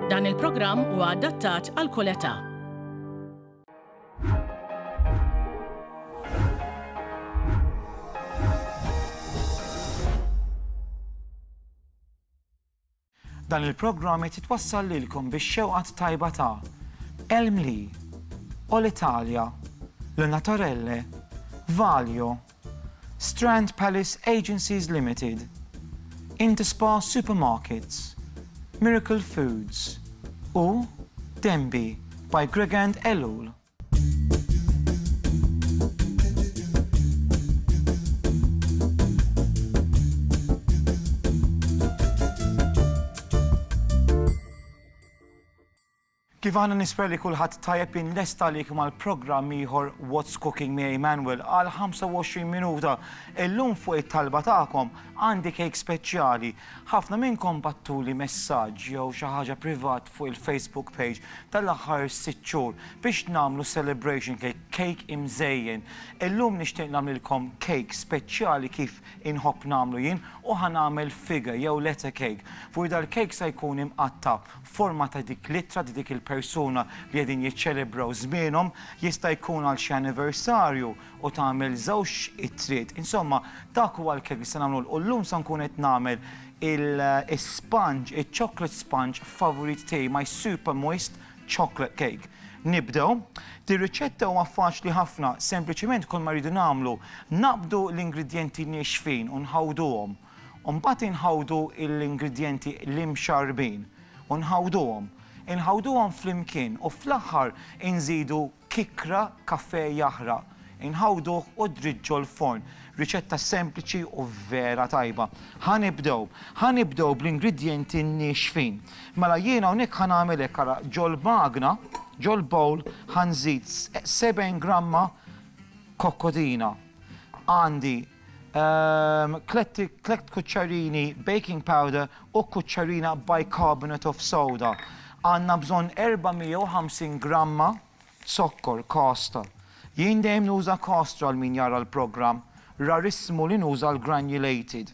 Dan il-programm huwa adattat għal kull età. Dan il-programm qed jitwassal lilkom bix-xewqat tajba ta' Elmli, Ol Italja, L-Natorelle, Valjo, Strand Palace Agencies Limited, Interspa Supermarkets, Miracle Foods u Denby by Gregand Ellul. Kif aħna nispera li kulħadd tajjeb jien lest għalik mal-programm ieħor What's Cooking miegħi Manuel għal 25 minuta. Illum fuq it-talba tagħkom għandi kejk speċjali. Ħafna minnkom bagħttuli messaġġ jew xi ħaġa privat fuq il-Facebook page tal-aħħar sitt xhur biex nagħmlu celebration cake, kejk imżejjen. Illum nixtieq nagħmlilkom kejk speċjali kif inħobb nagħmlu jien u ħa nagħmel fige jew lette cake. Fuq dal-kejk se jkun imqatta' forma ta' dik l-ittra ta' dik il-persuna li qegħdin jiċċelebraw żmienhom, jista' jkun għal xi anniversarju u tagħmel żewġ ittriet. Insomma, dak huwa l-kejk li se nagħmlulkom u llum se nkun qed nagħmel is-sponge, iċ-chocolate sponge favorit tiegħi, my super moist chocolate cake. Nibdew, dir-riċetta huwa faċli ħafna, sempliċiment kull ma rridu nagħmlu, naqbdu l-ingredjenti niexfin u nħawduhom. u mbagħad inħawdu l-ingredjenti l-imxarrbin u nħawduhom. Inħawduhom flimkien u fl-aħħar inżidu kikra kafè jaħraq. Inħawduh u ddriġġu l-forn. Riċetta sempliċi u vera tajba. Ħa nibdew. Ħa nibdew bl-ingredjenti niexfin. Mela jien hawnhekk ħa nagħmel hekk, ara, ġol-magna, ġol-bowl, ħa nżid seben gramma kokkodina. Għandi Ehm, tlett kuċċarini baking powder u kuċċarina bicarbonate of soda. Għanna bżon 450 gramma zokkor kasta. Jien dejjem nuża kasta għal min jara l-programm, rarismu li nuża l-granulated.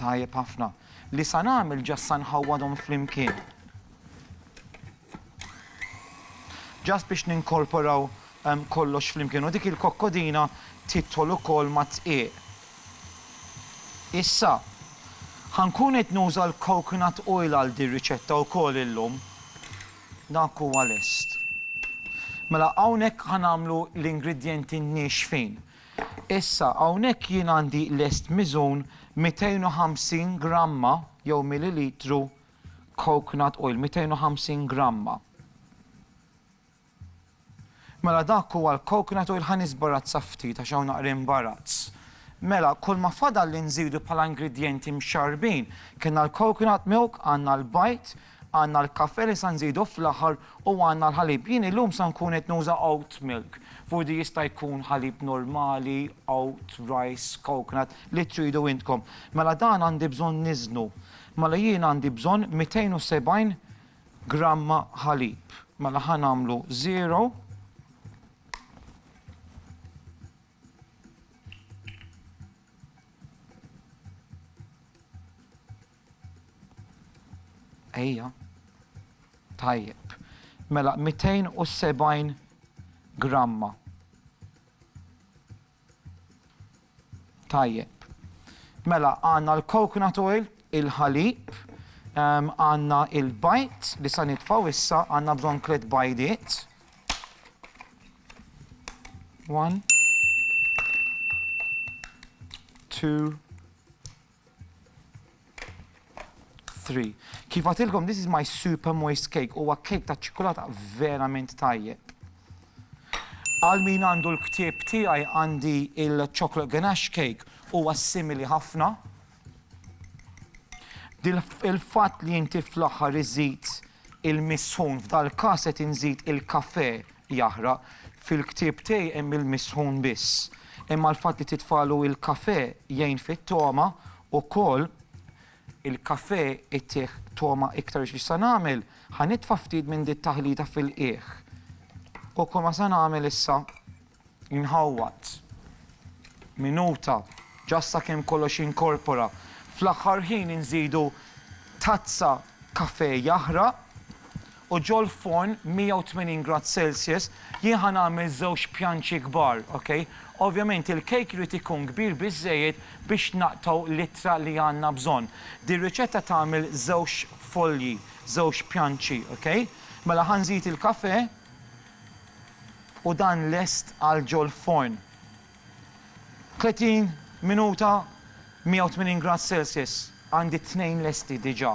Tajjeb ħafna. Li sa nagħmel ġa sa nħawwadhom flimkien. Ġast biex ninkorporaw kollox flimkien u dik il-kokkodina tidħol ukoll mad-dqiq. Issa, ħa nkun qed nuża l-coconut oil għal din riċetta wkoll illum. Dak huwa lest. Mela hawnhekk ħa nagħmlu l-ingredjenti niexfin. Issa, hawnhekk jien għandi lest miżun 250 gramma jew millilitru coconut oil, 250 gramma. Mela dak huwa l-coconut oil, ħa nisbarazza ftit għax hawn naqra imbarazz. Mela, kulma fadal li nżidu bħala ingredjenti mxarrbin, kellna l-coconut milk, għandna l-bajd, Għandna l-kafè li sa nżidu fl-aħħar u għandna l-ħalib. Jien illum sa nkun qed nuża oat milk. F'urdi jista' jkun ħalib normali, oat, rice, coconut, li tridu intkom. Mela dan għandi bżonn niżnu. Mela jien għandi bżonn 270 gramma ħalib. Mela ħa nagħmlu żero. Ejja. Tajjeb. Mela 270 gramma. Tajjeb. Mela għandna l-coconut oil, il-ħalib, ehm, għandna il-bajt li sa nitfgħu issa għandna bżonn tliet bajdiet. One. Two. 3. Kif għatilkom, this is my super moist cake, huwa kejk ta' ċikulata verament tajjeb. Għal min għandu l-ktieb tiegħi għandi il-chocolate ganache cake huwa simili ħafna. Il-fatt li inti fl-aħħar iżid il-misħun f'dal-każ qed inżid il-kafe jaħraq. Fil-ktieb tiegħi hemm il-misħun biss. Imma l-fatt li titfalu il-kafè jgħin fit-togħma ukoll. Il-kafè jtih togħma iktar biex x'sa nagħmel? Ħa nitfa' ftit minn di t-taħlita fil-qiegħ. U kull ma sa nagħmel issa? Inħawwad. Minuta. Ġa sakemm kollox jinkorpora. Fl-aħħar ħin inżidu tazza kafè jaħraq u ġol-forn 180 grad Celsius jien ħa nagħmel żewġ pjanċi kbar, ok? Ovvjament il-cake irid ikun kbir biżżejjed biex naqtgħu l-ittra li għandna bżonn. Dir-riċetta tagħmel żewġ folji, żewġ pjanċi, ok? Mela ħa nżid il-kafè u dan lest għal ġol-forn. 30 minuta 180 grad celsius għandi t-tnejn lesti diġa.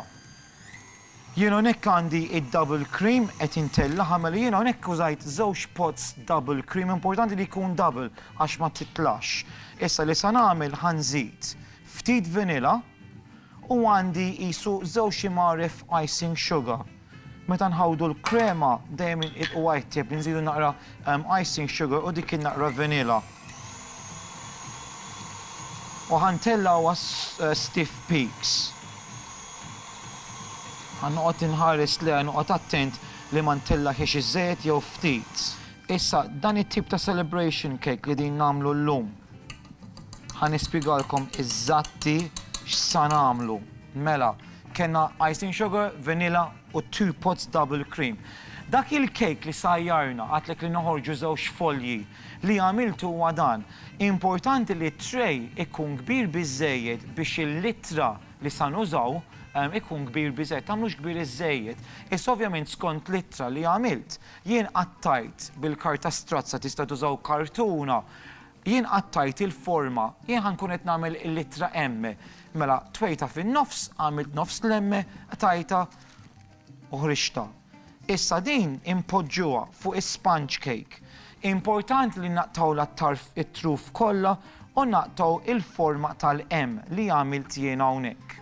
Jien hawnhekk għandi id-double cream qed intellagħha għamela jien hawnhekk użajt żewġ pots double cream importanti li jkun double għax ma titlax. Issa li sa nagħmel ħa nżid ftit vanilla u għandi qisu żewġ imgħaref icing sugar. Meta nħawdu l-krema dejjem inqidd u għajttieb li nżidu naqra icing sugar u dik in-naqra vanilla. U ħa ntellgħu għas stiff peaks. Ħa noqgħod inħares lejha noqgħod attent li ma ntellagħhiex iżżejjed jew ftit. Issa dan it-tip ta' celebration cake li din nagħmlu llum ħa nispjegalkom iżatti x'sa nagħmlu. Mela, Kellna icing sugar, vanilla u two pots double cream. Dak il-cake li sajjarna, għedtlek li noħorġu żewġ folji, li għamilt huwa dan. Importanti li t-tray ikun kbir biżżejjed biex il-littra li sa nużaw ikun kbir biżżejjed. Tagħmlux kbir iżżejjed. Issa ovvjament skont l-ittra li għamilt, jien qattajt bil-karta strazza, tista' tużaw kartuna, Jien qattajt il-forma, jien ħa nkun qed nagħmel il-littra M. Mela, twejtha fin-nofs, għamilt nofs l-M, qtajtha u ħriġtha. Issa din inpoġġuha fuq is-sponge cake. Importanti li naqtgħu l-attarf, it-truf kollha u naqtgħu l-forma tal-M li għamilt jien hawnhekk.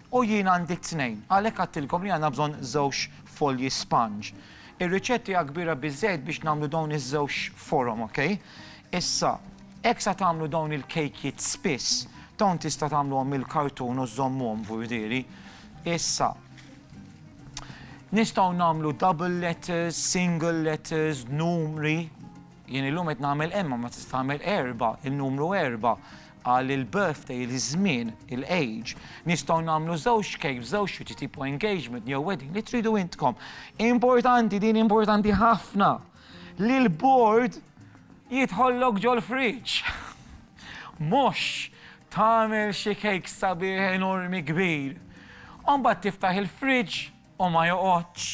U jien għandi t-tnejn. Għalhekk għedtilkom li għandna bżonn żewġ folji sponge. Ir-riċetta hija kbira biżżejjed biex nagħmlu dawn iż-żewġ forom, okej? Issa, hekk sa tagħmlu dawn il-kejkjiet spiss. Dawn tista' tagħmluhom mill-kartun u żżommuhom f'burdiri. Issa, nistgħu nagħmlu double letters, single letters, numri. Jien illum qed nagħmel imma ma tista' tagħmel erba', in-numru erba'. Għal il-birthday, il-żmien, il-age, nistgħu nagħmlu żewġ cake b'żewġ xwieġ tipo engagement jew wedding li tridu intkom. Importanti, din importanti ħafna, li l-bord jidħollok ġol-friġġ. Mhux tagħmel xi cake sabiħ enormi kbir u mbagħad tiftaħ il-friġġ u ma joqgħodx.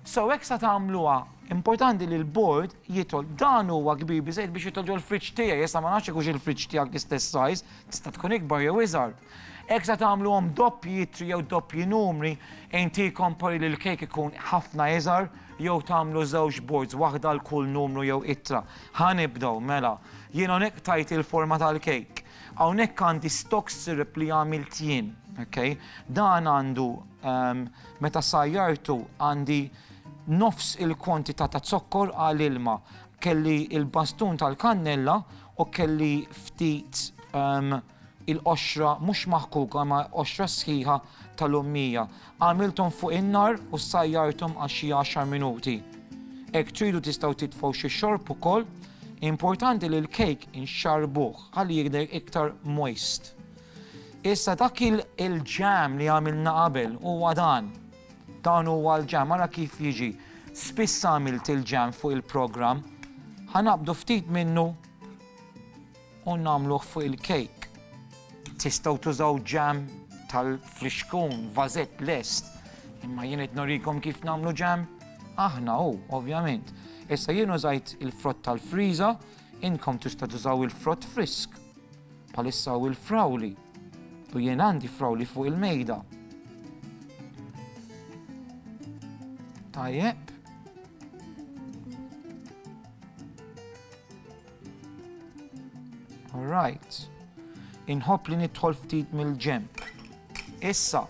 So hekk sa tagħmluha. Importanti li l-bord jidħol. Dan huwa kbir biżejjed biex jidħol ġol-fridge tiegħi, issa ma nafx jekk hux il-fridge tiegħek l-istess size, tista' tkun ikbar jew iżgħar. Hekk sa tagħmluhom doppji ittri jew doppji numri, inti kompari li l-kejk ikun ħafna iżgħar jew tagħmlu żewġ boards, waħda għal kull numru jew ittra. Ħa nibdew, mela. Jien hawnhekk tajt il-forma tal-kejk. Hawnhekk għandi stock syrup li għamilt jien, okay? Dan għandu Meta sajjartu għandi nofs il-kwantità ta' zokkor għal ilma. Kelli l-bastun tal-kannella u kelli ftit il-qoxra mhux maħkuka imma qoxra sħiħa tal-ummija. Għamilthom fuq in-nar u ssajjarthom għal xi għaxar minuti. Hekk tridu tistgħu titfgħu xi xorb ukoll. Importanti li l-kejk inxarrbuh ħalli jidher iktar moist. Issa dak il-ġam li għamilna qabel huwa dan. Dan huwa l-ġam, ara kif jiġi. Spiss għamilt il-ġam fuq il-programm. Ħanabdu ftit minnu u nagħmluh fuq il-kejk. Tistgħu tużaw ġam tal-frixkun, vazet lest. Imma jien qed norikom kif nagħmlu ġam? Aħna hu, ovvjament. Issa jien użajt il-frott tal-friża, inkom tista' tużaw il-frott frisk. Bħalissa hu l-frawli u jien għandi frawli fuq il-mejda. Tajjeb. Alright. Inħobb li nidħol ftit mill-ġemp. Issa,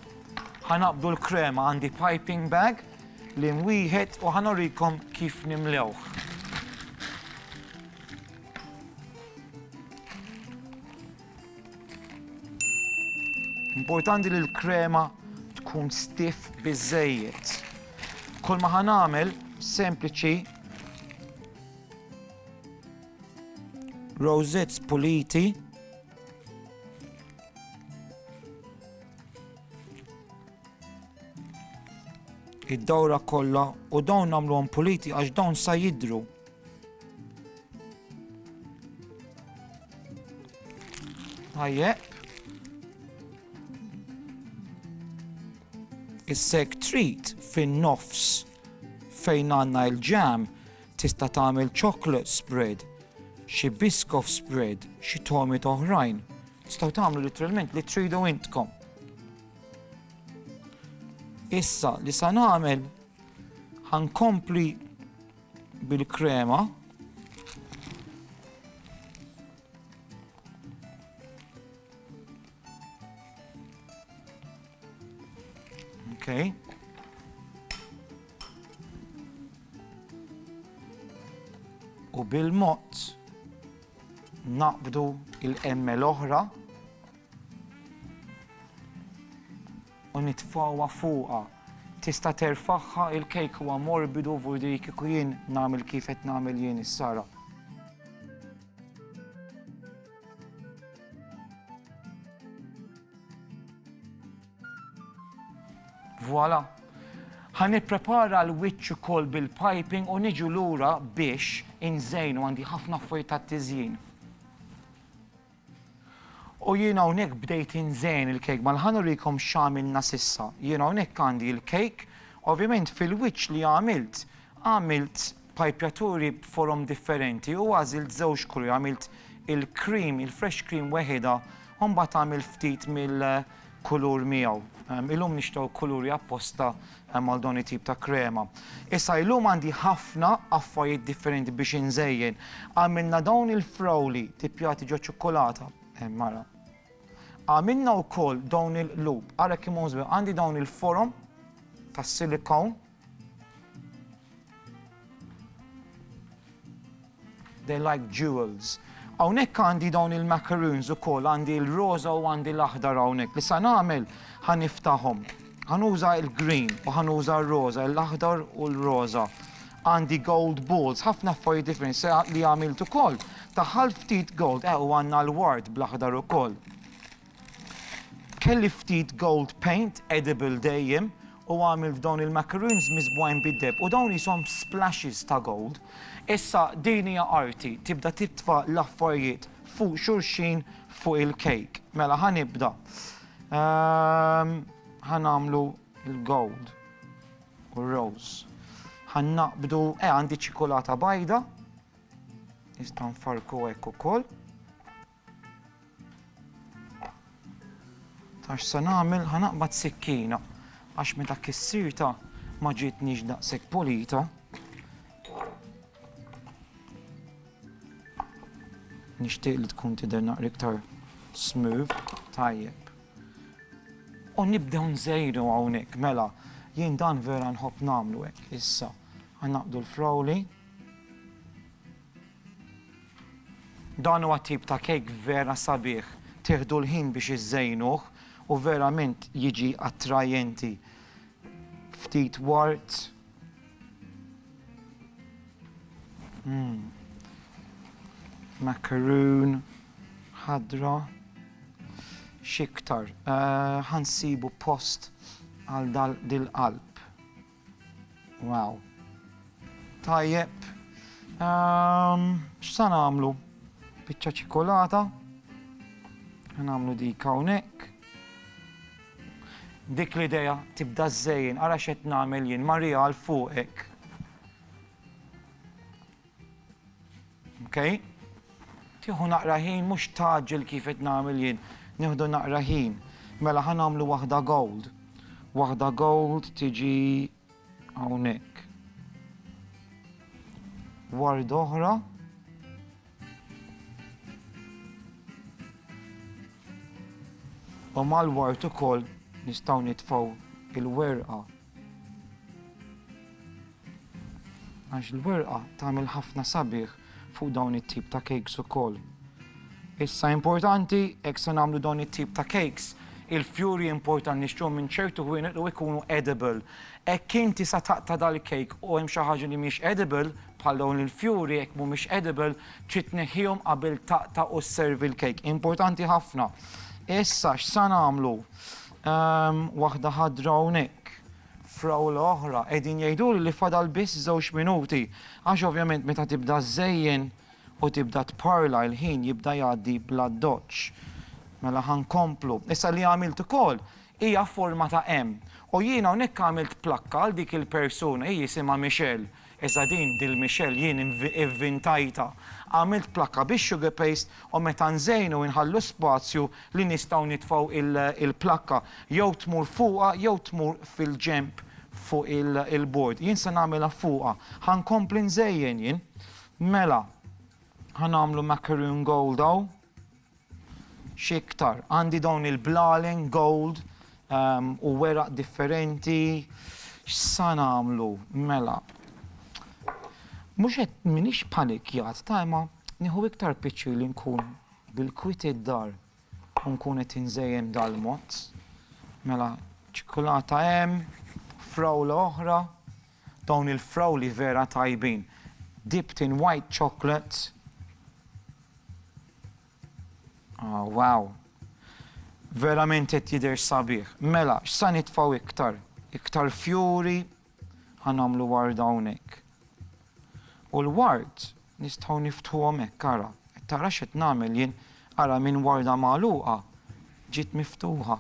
ħanaqbdu l-krema għandi piping bag li mwieħed u ħanorikom kif nimlewħ. Importanti li l-krema tkun stiff biżejjed. Kol ma ħanamel sempliċi rosettes puliti id-dawra kollha u dawn nagħmluhom puliti għax dawn sa jidru Tajjeb. Is-seg treat fin-nofs fejn għandna l-ġam tista' tagħmel chocolate spread, xi biskof spread, xi tomit oħrajn. Tistgħu tagħmlu literalment li tridu intkom. Issa li sa nagħmel ħankompli bil-krema. Okay. U bil-mod naqbdu il-emme l-oħra u nitfgħuha fuqha tista' terfagħha il-cake huwa morbidu vurdi kieku jien nagħmel kif qed nagħmel jien is-sara. Voilà! Ħa nipprepara l-wiċċ ukoll bil-piping u niġu lura biex inżejnu għandi ħafna affarijiet tat-tiżjin. U jien hawnhekk bdejt inżejjen il-kejk, mela ħa nurikom x'għamilna s'issa. Jien hawnhekk għandi l-kejk, ovvjament fil-wiċċ li għamilt, għamilt pajpjaturi b'forom differenti u għażilt żewġ kuluri, għamilt il-cream, il-fresh cream weħidha u mbagħad għamilt ftit mill-kulur miegħu. Illum nixtgħu kuluri apposta Hemm għal dawn it-tip ta' krema. Issa illum għandi ħafna affarijiet differenti biex inżejjen. Għamilna dawn il-frawli tippjati ġo ċukkulata. Hemm ara. Għamilna wkoll dawn il-qlub. Ara kemm hum żbieħ. Għandi dawn il-forom tas-silikon. They like jewels. Hawnhekk għandi dawn il-macaroons ukoll, għandi l-roża u għandi l-aħdar hawnhekk. Li sa nagħmel ħa niftahom. Ħanuża il-green u ħanuża r-roża, l-aħdar u l-roża. Għandi gold balls, ħafna affarijiet differenti se li għamilt ukoll. Taħħal ftit gold, eh u għandna l-ward bl-aħdar ukoll. Kelli ftit gold paint edible dejjem u għamilt dawn il-macaroons miżbugħin bid-deheb u dawn qishom splashes ta' gold. Issa din hija arti, tibda titfa' l-affarijiet fuq xulxin fuq il-cake. Mela ħa nibda. Ehm, ħa nagħmlu l-gold u r-rose. Ħa naqbdu, eh għandi ċikulata bajda, nista' nfarku hekk ukoll. Ta' x'se nagħmel, ħa naqbad sikkina għax meta kissirtha ma ġietnix daqshekk pulita. Nixtieq li tkun tidher naqra iktar smooth, tajjeb. U nibdew nżejru hawnhekk, mela, jien dan vera nħobb nagħmlu hekk issa. Ħa naqdu l-frowli. Dan huwa t-tip ta' kejk vera sabiħ, tieħdu l-ħin biex iżżejnuh u verament jiġi attrajenti. Ftit wart. Mmm. Macaroon ħadra. X'iktar? Ħa nsibu post għal dal-qalb. Wow. Tajjeb. Ehm, x'sa nagħmlu? Biċċa ċikolata. Nagħmlu dik hawnhekk. Dik l-idea tibda żejjin, ara x'qed nagħmel jien, Marija għal fuqek. Okay? Tieħu naqra ħin mhux taġġel kif qed nagħmel jien, nieħdu naqra ħin. Mela ħa nagħmlu waħda gold. Waħda gold tiġi hawnhekk. Ward oħra. U mal-ward ukoll nistgħu nitfgħu il-werqa Għax l-werqa tagħmel ħafna sabiħ fuq dawn it-tip ta' cakes ukoll. Issa importanti jekk se nagħmlu dawn it-tip ta' cakes, il-fjuri importan nixtruhom minn ċertu ħwienet u jkunu edible. Hekk inti sa taqta' dal-cake u hemm xi ħaġa li mhix edible, bħal dawn il-fjuri jekk mhumiex edible, trid tneħħihom qabel taqta' u sservi l-cake. Importanti ħafna. Issa x'sa nagħmlu? Hemm waħda ħadra hawnhekk, frawla oħra, qegħdin jgħiduli li fadal biss żewġ minuti, għax ovvjament meta tibda żżejjen u tibda tparla il-ħin jibda jgħaddi bl-addoċċ. Mela ħa nkomplu. Issa li għamilt ukoll hija forma ta' M u jiena hawnhekk għamilt plakka għal dik il-persuna, hi jisimha Michelle, Iżda din, Dil Michelle, jien ivvintajtha. Għamilt plakka bix-sugar paste u meta nżejnu inħallu spazju li nistgħu nitfgħu il-plakka jew tmur fuqha jew tmur fil-ġenb fuq il-bord. Jien se nagħmilha fuqha. Ħa nkompli nżejjen jien. Mela, ħa nagħmlu macaroon gold hawn. X'iktar, għandi dawn il-blalen gold u weraq differenti. X'sa nagħmlu? Mela. Mhux qed m'iniex panikjat ta' imma nieħu iktar piċċir li nkun bil-kwiet id-dar u nkun qed inżejjen dal-mod. Mela, ċikkulata hemm, frawla oħra. Dawn il-frawli vera tajbin. Dipped in white chocolate. Aww wow. Verament qed jidher sabiħ. Mela, x'sa nitfgħu iktar? Iktar fjuri? Ħa nagħmlu ward hawnhekk. U l-wards nistgħu niftħuhom hekk ara. Qed tara x'qed nagħmel jien? Ara minn warda magħluqa ġiet miftuħa.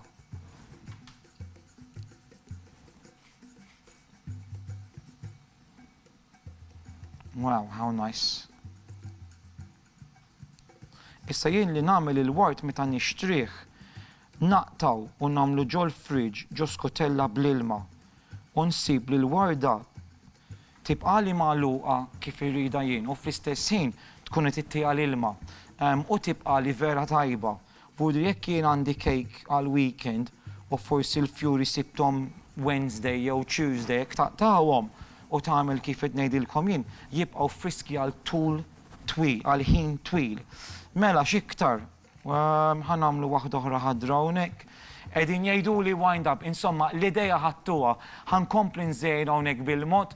Wow, how nice. Issa jien li nagħmel il-wart meta nixtrih, naqtaw u nagħmlu ġol fridge ġo skotella bl-ilma u nsib li l-warda tibqali magħluqa kif irrida jien u fl-istess ħin tkun qed ittiha l-ilma u tibqali vera tajba. B'hudri jekk jien għandi kejk għall-weekend u forsi l-fjuri sibthom Wednesday jew Tuesday jekk taqtagħhom u tagħmel kif qed ngħidilkom jien jibqgħu friski għal tul twil, għal ħin twil. Mela x'iktar? Ħa nagħmlu waħda oħra ħadra hawnhekk. Qegħdin jgħiduli wind up, insomma l-idea ħadtuha. Ħa nkompli nżejjed hawnhekk bil-mod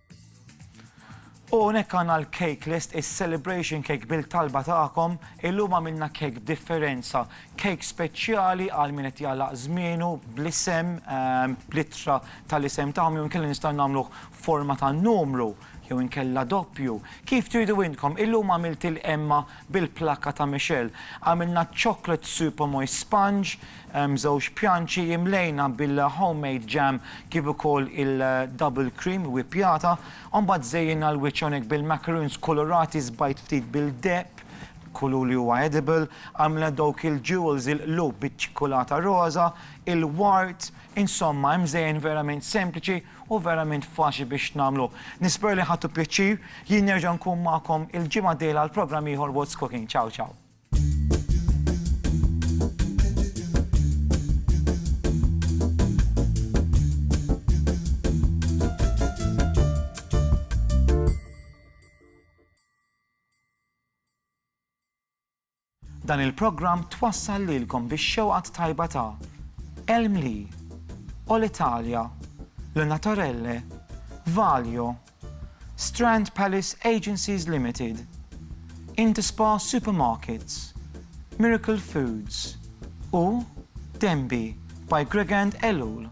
U hawnhekk għandna l-cake list, is-celebration cake bil-talba tagħkom. Illum għamilna cake b'differenza, cake speċjali għal min qed jagħlaq żmienu bl-isem, bl-ittra tal-isem tagħhom jew inkella nistgħu nagħmluh forma ta' numru jew inkella doppju, kif tridu intkom. Illum għamilt il-qemma Bil-plakka ta' Michelle għamilna chocolate super moist sponge, żewġ pjanċi imlejna bil-homemade jam kif ukoll il-double cream wippjata. Mbagħad żejjinna l-wiċċ hawnhekk bil-macaroons kulurati sbajt ftit bil-deheb, kulur li huwa edible, għamilna dawk il-jewels, il-qlub biċ-ċikkulata roża, il-wart, insomma imżejjen verament sempliċi. Hu verament faċli biex nagħmlu. Nispera li ħadtu pjaċir. Jien nerġa' nkun magħkom il-ġimgħa d-dieħla għal programm ieħor What's Cooking. Ciao ciao. Dan il-programm twassal lilkom bix-xewqa t-tajba ta' El Mli, Olitalia, Le Naturelle, Valio, Strand Palace Agencies Limited, Interspa Supermarkets, Miracle Foods u Denby by Gregand Ellul.